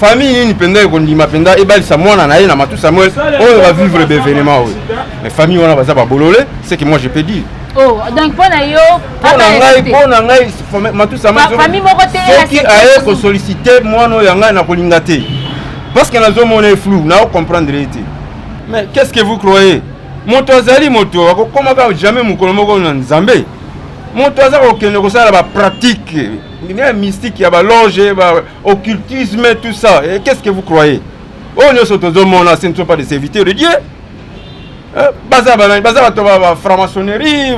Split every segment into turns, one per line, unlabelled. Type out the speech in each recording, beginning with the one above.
famille nini mpenza ekondima mpenza ebalisa mwana na ye na matu samuel oyo bavivre baevenement oyo mais famille wana baza babolole ce que moi je peux dire oh, donc mpo na
yo mpo na ngai mpo
na ngai matu samuelfamille moko tesoki
aye
kosollicite mwana oyo ya ngai nakolinga te parce que nazomona ye flou naocomprendre ye te mais qu'est ce que vous croyez moto azali moto akokoma kaka jamais mokolo moko na nzambe moto aza kokende kosala ba pratique ya mystique ya baloge ba occultisme tout ça Et qu'est ce que vous croyez oyo nyonso tozomona ce ne sont pas des serviteurs de dieu eh, baza banani baza bato ba ba franc-maçonnerie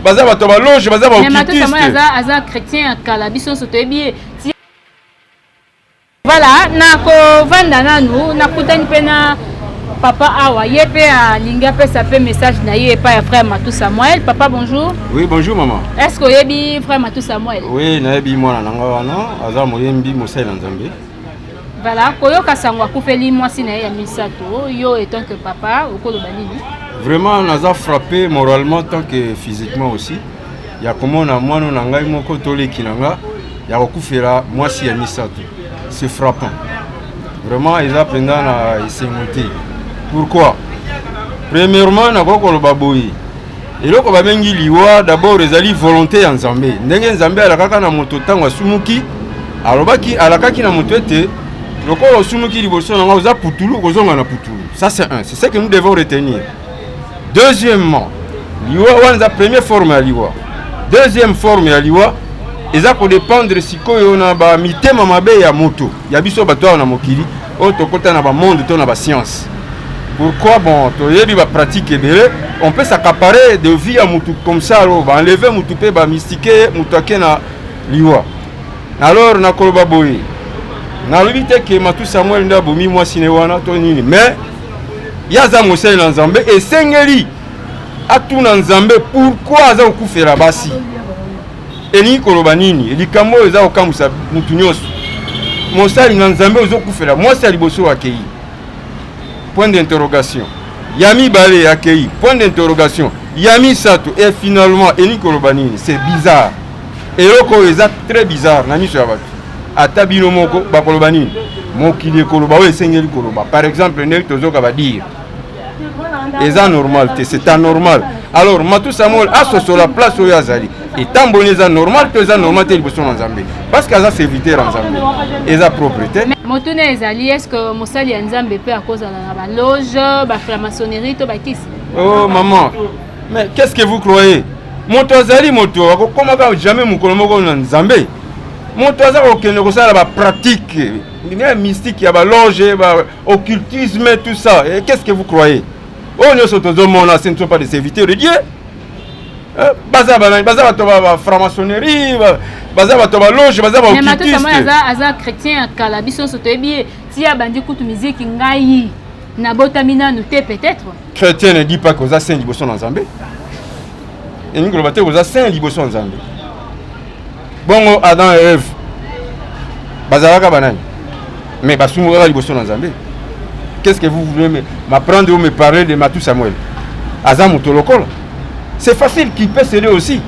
baza bato ba loge baza ba occultiste aza chrétien
ya kala biso nyonso toyebi ye Voilà, nakovanda nanu nakutani mpe na papa awa ye mpe alingi apesa mpe message na ye epai ya frère matou samuel papa bonjour oui bonjour maman
est ce que oyebi
frère matou samuel oui nayebi mwana na
ngai wana aza moyembi mosali na nzambe voilà
koyoka sango akufeli mwasi na ye ya misato yo etant que papa okoloba nini vraiment naza
frappé moralement tant que physiquement aussi ya komona mwana na ngai moko to leki na nga ya kokufela mwasi ya misato c'est frappant vraiment eza mpenza na esengo te pourquoi premièrement nakoki koloba boye eloko babengi liwa d'abord ezali volonté ya nzambe ndenge nzambe alakaka na moto ntango asumuki alobaki alakaki na moto ete lokola osumuki liboso na ngai oza putulu okozonga na putulu ça c'est un c'est ce que nous devons retenir deuxièmement liwa wana eza première forme ya liwa deuxième forme ya liwa eza kodépendre sikoyo na bamitema mabe ya moto ya biso bato awa na mokili oyo tokota na bamonde to na bascience pourquoi bon toyebi bapratique ebele on peut s'accaparer de vie ya motu comme ça alo baenleve motu mpe bamistike ye motu ake na liwa alors nakoloba boye nalobi te ke matu samuel nde abomi mwasi ne wana to nini mais ye aza mosali na nzambe esengeli atuna nzambe pourkui aza kokufela basi elingi koloba nini likambo oyo eza kokamwisa motu nyonso mosali na nzambe ozokufela mwasi ya liboso akei point d'interrogation ya mibale akei point d'interrogation ya misato e finalement elingi koloba nini c'est bizarre eloko oyo eza très bizarre na miso ya bato ata bino moko bakoloba nini mokili ekoloba oyo esengeli koloba par exemple ndenge tozoka badire eza normal te c'est anormal alors matu samuel asosola place oyo azali etamboli eza normal to eza normal te liboso na nzambe parce que aza serviteur ya nzambe eza propre te motuna ezali
est ce que mosali ya nzambe mpe akozala na baloge baframaçonnerie
to bakisi oh maman Mais qu'est-ce que vous croyez? Moto azali moto akokomaka jamais mokolo moko na Nzambe. Moto aza kokende kosala ba pratique ya mystique ya ba loge, ba occultisme tout ça. Et qu'est-ce que vous croyez? Oyo nyonso tozomona ce ne sont pas des serviteurs de Dieu. Eh, baza banani baza bato ba bafranc-maçonnerie baza bato ba loge baza baokitisteaza
chrétien ya kala biso nyonso toyebi ye ti abandi kutu miziki ngai nabotami nanu te peut-être chrétien ne dit pas
que oza saint liboso na nzambe elingi koloba te oza saint liboso na nzambe bongo adam et eve bazalaka banani mais basungukaka liboso na nzambe qu'est-ce que vous voulez m'apprendre ou me parler de matou samuel aza moto lokola c'est facile qu'il peut céder aussi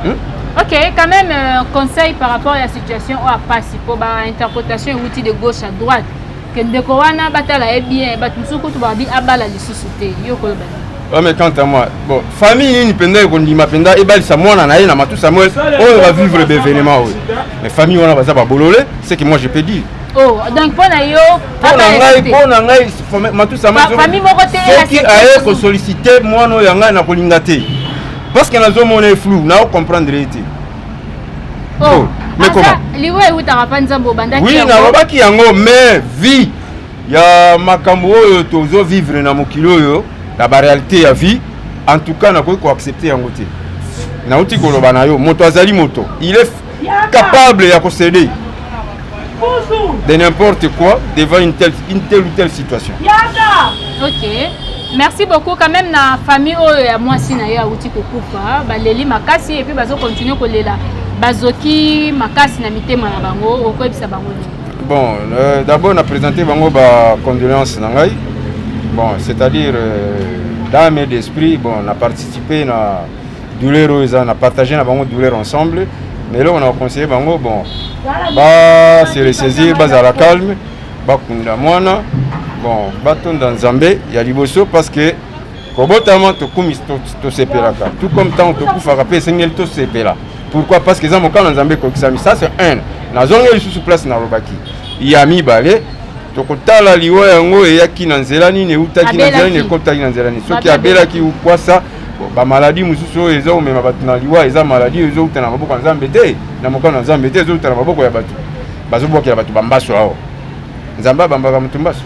hmm?
ok quand même euh, conseil par rapport à la situation oyo apasi mpo bainterprétation euti de gauche à droite Ke ndeko wana batala ye bien, bato mosusu kutu babi abala lisusu
te. Yo koloba nini? Ouais, mais quant à moi, bon, famille nini mpenza ekondima mpenza ebalisa mwana na ye na matu Samuel oyo va vivre d'événement oyo. Mais famille wana baza babolole, c'est que moi je peux dire. Oh, donc mpo
na yo mpo na ngai mpo na ngai
matu Samuel soki
aye kosollicite
mwana oyo ya ngai nakolinga te parce que nazomona ye flou nao comprendre ye te.
Oh, oh mais comment
liwa ewutaka mpa
nzambe obandaki oui nalobaki yango
mais vie ya makambo oyo tozo vivre na mokili oyo na barealité ya vie en tout cas nakoki koaccepte yango te nauti koloba na yo moto azali moto il est capable ya kosede de n'importe quoi devant une telle, une telle ou telle situation. Yada. Ok.
Merci beaucoup quand même na famille oyo oh, ya mwasi na ye awuti kokufa baleli makasi epuis bazokontinue kolela bazoki makasi na mitema na bango okoyebisa bango nini bon euh,
d'abord na présente bango bacondoléance na ngai bon c'est-à-dire euh, dame d'esprit bon na participe na douleur oyo eza na partage na bango douleur ensemble mais eloko na conseiller bango bon ba se ressaisir bazala calme bakunda mwana bon batonda nzambe ya liboso parce que kobotama tokumisi tosepelaka tout comme ntango tokufaka mpe esengeli tosepela pourquoi parce que eza mokano nzambe ekokisami ça c'est un nazongi lisusu place nalobaki ya mibale tokotala liwa yango eyaki na nzela nini eutaki na nzela nini ekotaki na nzela nini soki abelaki ukwasa ba maladie mosusu oyo eza omema bato na liwa eza maladie oyo ezowuta na maboko ya nzambe te na mokano ya nzambe te ezowuta na maboko ya bato bazobwakela bato bambaso awa nzambe abambaka moto mbaso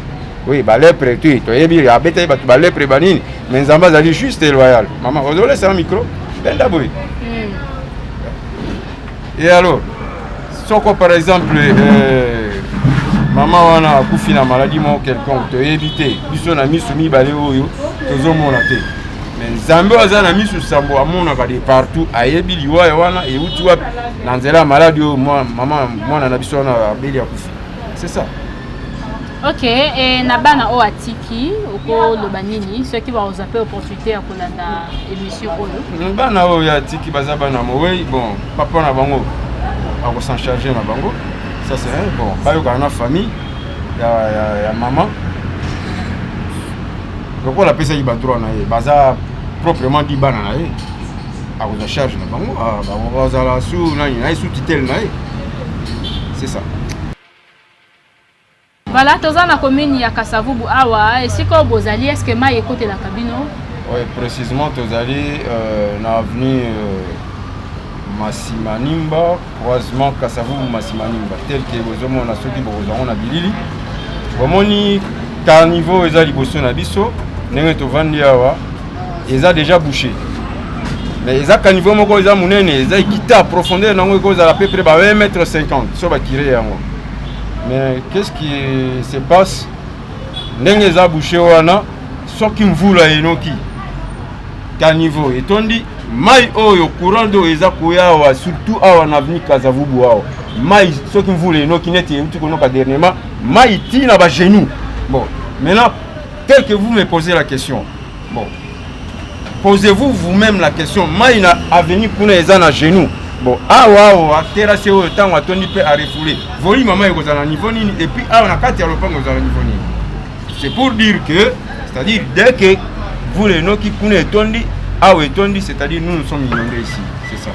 oui balepre te toyebi abetaki bato balepre banini mais nzambe azali juste loyal mama ozolesa na micro benda boye hmm. Et alors, soko par exemple euh, mama wana akufi na maladie moko quelconque toyebi te biso na miso mibale oyo tozomona te mais nzambe oyo aza na miso sambo amonaka de partout ayebi liwaya wana euti wapi na nzela ya maladi oyo mama mwana na biso wana abeli akufi c'est ça ok
e, na bana oyo atiki okoloba nini soki bakozwa mpe opportunité ya kolanda émission oyo mm, bana oyo atiki
baza bana mowei bon papa na bango akosan charge na bango ça c'est un bon bayokana na famille ya, ya, ya mama lokola apesaki badroit na ye baza proprement di bana na ye akozwa charge na bango bazala su nani naye su tutele na ye c'est ça
voilà toza na commune ya kasavubu awa esika oyo bozali est ce que mai ekotelaka bino oui précisément
tozali euh, na avenue euh, masimanimba croisement kasavubu masimanimba tel ke bozomona soki bokozwa yango na bilili bomoni carniveau eza liboso na biso ndenge tovandi awa eza déjà bouché mais eza caniveau moko eza monene eza ekita profondeur na yango ekozala peu près ba 1 mètre 50 so bakire yango mais qu'est ce qui se passe ndenge eza bouché wana soki mvula enoki caniveau etondi mai oyo courant d'eau eza koya awa surtout awa na avenue kazavubu awa mai soki mvula enoki neti euti konoka dernièrement mai ti na bagenou bon maintenant tel que vous me posez la question bon posez-vous vous-même la question mai na avenue kuna eza na genou bon awa awa terase oyo ntango atondi mpe arefoule volume ya mai ekozala na niveau nini epuis awa na kati ya lopango ekozala na niveau nini C'est pour dire que, c'est-à-dire dès que vous les noms qui kuna etondi, awa etondi, c'est-à-dire nous nous sommes inondés ici, c'est ça.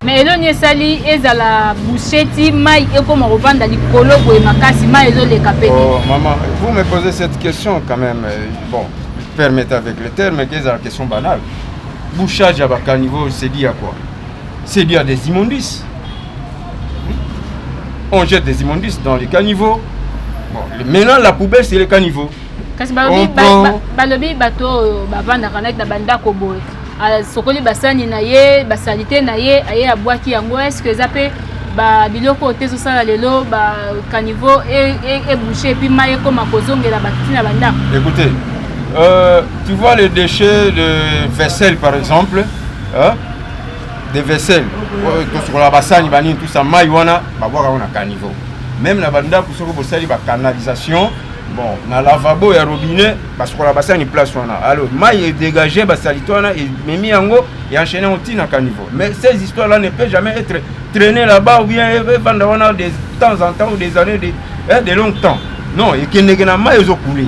me eloni esali ezala busheti mai ekoma kovanda likolo boye makasi mai ezoleka mpe oh, mama vous me
posez cette question quand même euh, bon permettez avec le terme que ezala question banale bouchage ya bacaniveau sedi ya quoi C'est bien des immondices. On jette des immondices dans les caniveaux. Bon, maintenant, la poubelle, c'est les caniveaux. kasi
balobi bato oyo bavandaka naki na bandako boye asokoli basani na ye basalite na ye aye abwaki yango est ce que eza mpe biloko oyo te ezosala lelo bacaniveau ebouche e, e epuis mai ekoma kozongela bato ntina bandako écoutez
euh, tu vois les déchets de vaisselle par exemple hein? de vaisselle oyo tosukolaka basani banini tusa mai wana babwaka yango na caniveau meme na bandako soki bosali bacanalisation bon na lavabo ya robinet basukolaka basani place wana alors mai edégage basalite wana ememi yango eanchaine yango ntina caniveau mais ces histoires là ne peut jamais être traîner là-bas ou bien evanda wana de temps en temps ou des années de, eh, de long temps non ekendeke na mai ezokule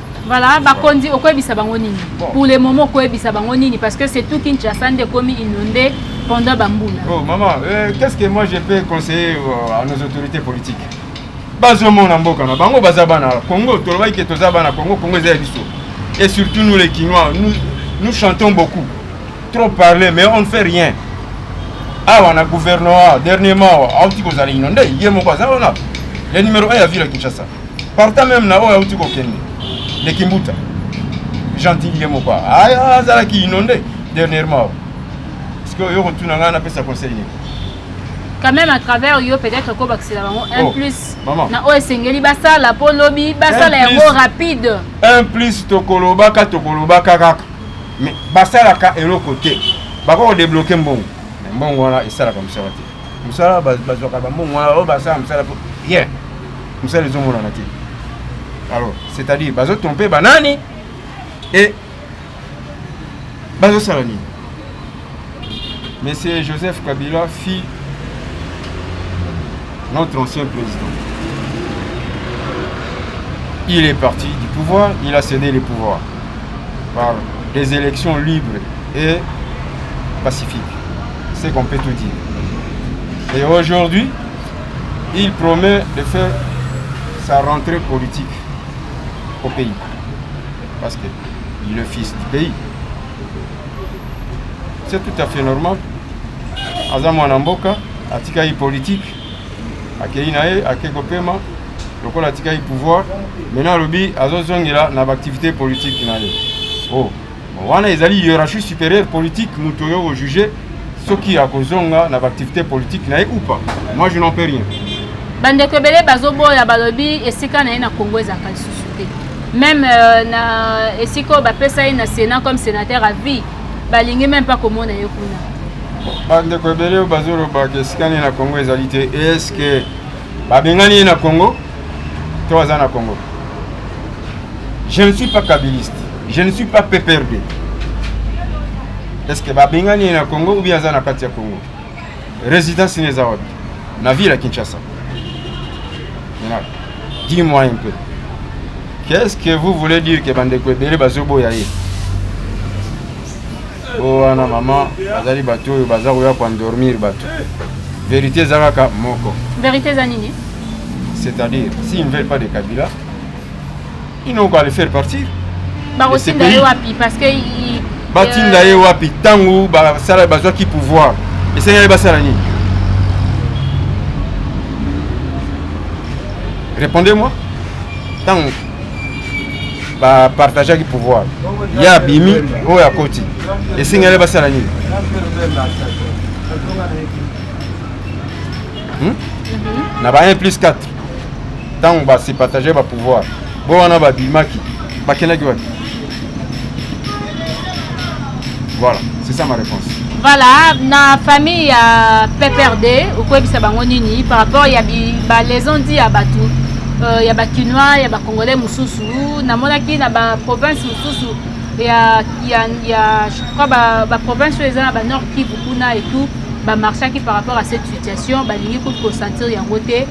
Voilà, bakonzi
okoyebisa bango nini pour le moment okoyebisa bango nini parce que c'est tout Kinshasa nde ekomi inondé pendant bambula. Oh maman, euh,
qu'est-ce que moi je peux conseiller euh, à nos autorités politiques bazomona mboka na bango baza bana Congo tolobaki ke toza bana Congo Congo eza ya biso et surtout nous les Kinois nous, nous chantons beaucoup trop parler mais on ne fait rien awa na gouvernement dernièrement auti kozala inonde ye moko aza wana le numéro 1 ya ville ya Kinshasa partant meme na oyo auti kokende leki mbuta gentil ye moko aya azalaki inonde dernièrement parceque oyo kotuna ngai napesa conseil nini quand
même à travers yo peut-être kobakisela bango un oh, plus na oyo esengeli
basala
mpo lobi basala yango rapide un plus
tokolobaka tokolobaka kaka mais basalaka eloko te bakoki kodebloke mbongo mbongo wana esalaka mosala te mosala bazwaka bambongo wana oyo basala mosala po rien mosala ezomonana te alors c'est-à-dire bazotrompe banani e bazosala nini monsieur joseph kabila fit notre ancien président il est parti du pouvoir il a cédé le pouvoir par des élections libres et pacifiques C'est qu'on peut tout dire. Et aujourd'hui, il promet de faire sa rentrée politique au pays. Parce que il est le fils du pays. C'est tout à fait normal. aza mwana mboka atikaki politique akei na ye akei kopema lokola atikaki pouvoir maintenant alobi azozongela na baactivité politique na ye oh. wana ezali hiérarchie supérieure politique moto oyo ojuge soki akozonga na baactivité politique na ye ou pas moi je n'en peux rien bandeko ebele
bazoboya balobi esika na ye na congo ezalaka lisusu te meme euh, na esika oyo bapesa ye na sénat comme sénateur à vie balingi meme mpa komona ye kuna
bandeko ebele oyo bazolobaka esika na ye na congo ezali te eske Babengani ye na Congo to aza na Congo? Je ne suis pas kabiliste, je ne suis pas PPRD. Est-ce que babengani ye na Congo ou bien aza na kati ya Congo? Résidence neza wapi? Na ville ya Kinshasa. Dis-moi un peu. Qu'est-ce que vous voulez dire que bandeko ebele bazoboya ye? bo wana mama bazali bato oyo baza koya koendormir bato verité eza kaka moko verité eza nini
c'est-à-dire
s'ils ne veulent pas de kabila ils n'ont qu'à le faire partir bakotinda
ye wapi parce que batinda
ye wapi ntango basala bazwaki pouvoir esengeli basala nini répondez moi ntango ba partageaki pouvoir ye abimi oyo akoti esengeli basala nini hmm? na ba 1 plus 4 ntango base partage ba pouvoir bo wana babimaki bakendaki wapi Voilà, c'est ça ma réponse. Voilà, na
famille ya PPRD, okoyebisa bango nini par rapport ya ba les on dit ya batu euh, ya ba kinois, ya ba congolais mususu, namonaki na ba province mususu ya ya ya je crois ba ba province oyo eza na ba Nord Kivu kuna et tout, ba marchaki par rapport à cette situation, balingi ko sentir yango te.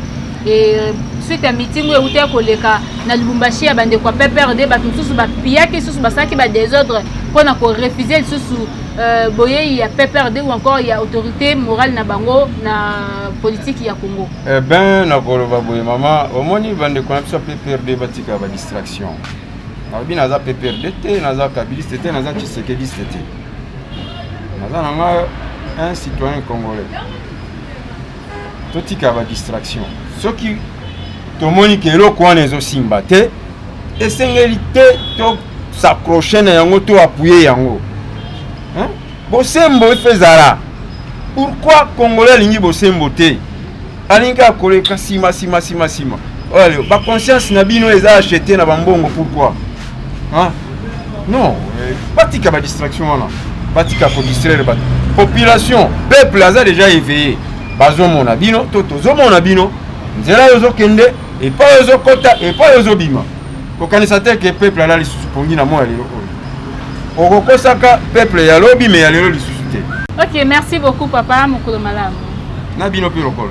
suite ya mitingo euti ya koleka na lubumbashi ya bandeko ya pprd bato mosusu bapiyaki lisusu basalaki badesordre mpo na korefuze lisusu euh, boyei ya pprd ou encore ya autorité morale na bango na politiki ya congo eh ben nakoloba
boye mama omoni bandeko na biso ya pprd batika badistraction nalobi naza pprd te naza kabiliste te naza tshisekediste te naza na nga un citoyen congolais totika ba distraction soki tomoni ke eloko wana ezosimba te esengeli te tosacroche na yango to apuye yango bosembo efe ezala pourkui congolais alingi bosembo te alingi kaka koleka nsima nsima nsima nsima oyo baconscience na bino eza achete na bambongo pourkui non eh, batika ba distraction wana batika ko distraire bato population peuple aza déjà éveillé bazomona bino to tozomona bino nzela yo ozokende epai yo ozokota epai yo ozobima kokanisa te ke peuple ala lisusu pongi na moi ya lelo oyo okokosaka peuple ya lobi me ya lelo lisusu te ok merci
beaucoup papa mokolo malamu na bino mpe
lokola